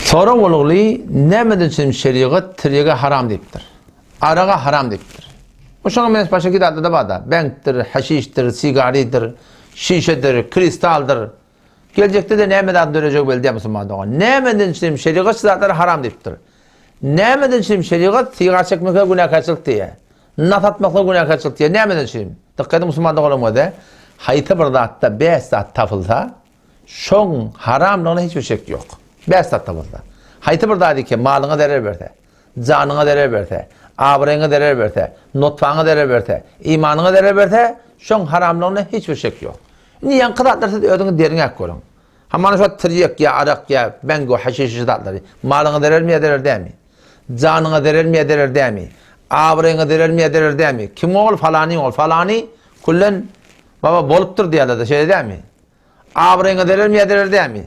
Sorag bolguly, näme üçin şerigat tirýege haram diýipdir? Araga haram diýipdir. Bu şoňa meňzeş başga iki zatda-da bar-da. Bentdir, haşişdir, sigaridir, şişedir, kristaldyr. Geljekde-de näme zat dörejegi belli däl musulman dogan. Näme üçin şerigat şu zatlary haram diýipdir? Näme üçin şerigat sigar çekmeklige günäkärçilik diýýär? Nas atmaklyga günäkärçilik diýýär. Näme üçin? Dykgat ediň musulman doganlarym göze. Haýsy bir zatda bäş zat tapylsa, Şoň haramlygyna hiç bir şek ýok. Bäş zatda bolsa. Haýsy bir zat eken malyňa zerer berse, janyňa zerer berse, abraýyňa zerer berse, notpaňa zerer berse, imanyňa zerer berse, şoň haramlygyna hiç bir şek ýok. Indi ýaňky zatlar siz özüňiz derňäp görüň. Ha mana şu tirýek ýa arak ýa bengo haşiş şu zatlary malyňa zerermi ýa zerer dämi? Janyňa zerermi ýa zerer dämi? Abraýyňa zerermi ýa zerer dämi? Kim ol falany ol falany kullen baba bolupdyr diýerler-de şeýle dämi? Abraýyňa zerer miýä zerer dämi?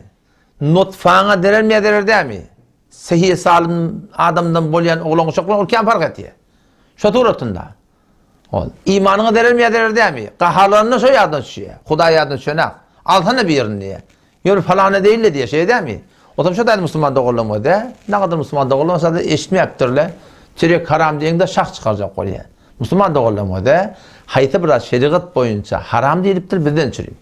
Nutfaňa zerer miýä zerer dämi? Sehi salym adamdan bolýan oglan uşak bilen ol kän park etýär. Şo suratynda. Ol imanyňa zerer miýä zerer dämi? Gaharlananda şo ýadyna düşýär. Hudaý ýadyna düşenak. Alsana birini diýýär. Ýöne falany deýin-le diýýär. Şeýle dämi? Otam şo daýy musulman doganlaryň özi. Nähili musulman doganlar bolsa-da eşitmeýäpdir-le. Çörek haram diýeňde şah çykarjak bolýar. Musulman doganlarymyza haýsy biraz şerigat boýunça haram diýlipdir bizden çürim.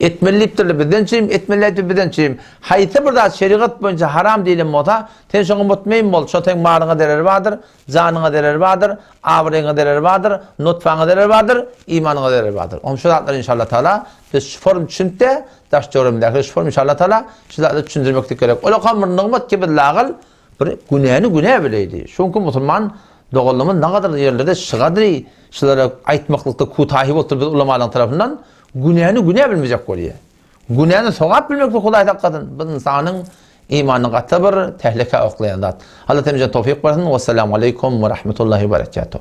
Etmeli diýipdirler bizden çürim, etmeli aýdypdyr bizden çürim. Haýsy bir zat şerigat boýunça haram diýlen bolsa, sen şoňa mutmeýin bol, şo seň malyňa zereri bardyr, janyňa zereri bardyr, abraýyňa zereri bardyr, nutfaňa zereri bardyr, imanyňa zereri bardyr. Onda şu zatlary inşallah tagala biz şu forum düşünipde, daş-töweregimdäkilere şu forum inşallah tagala şu zatlary düşündirmeklik gerek. Ol okan bir nygmat kibi lagyl, Bir günäni günä bileýdi. Şoňky musulman doganlarymyz nagadar ýerlerde şygadry şylara aýtmaklykda kutahi bolupdyr biz ulamalaň tarapyndan, günäni günä bilmejek bolýar. Günäni sogap bilmekde Hudaý saklasyn, bu ynsanyň imanyny gaty bir tehlikä oklaýan zat. Allah hemimize towfik bersin. Wessalamaleýkum we rahmetullahi we berekatuh.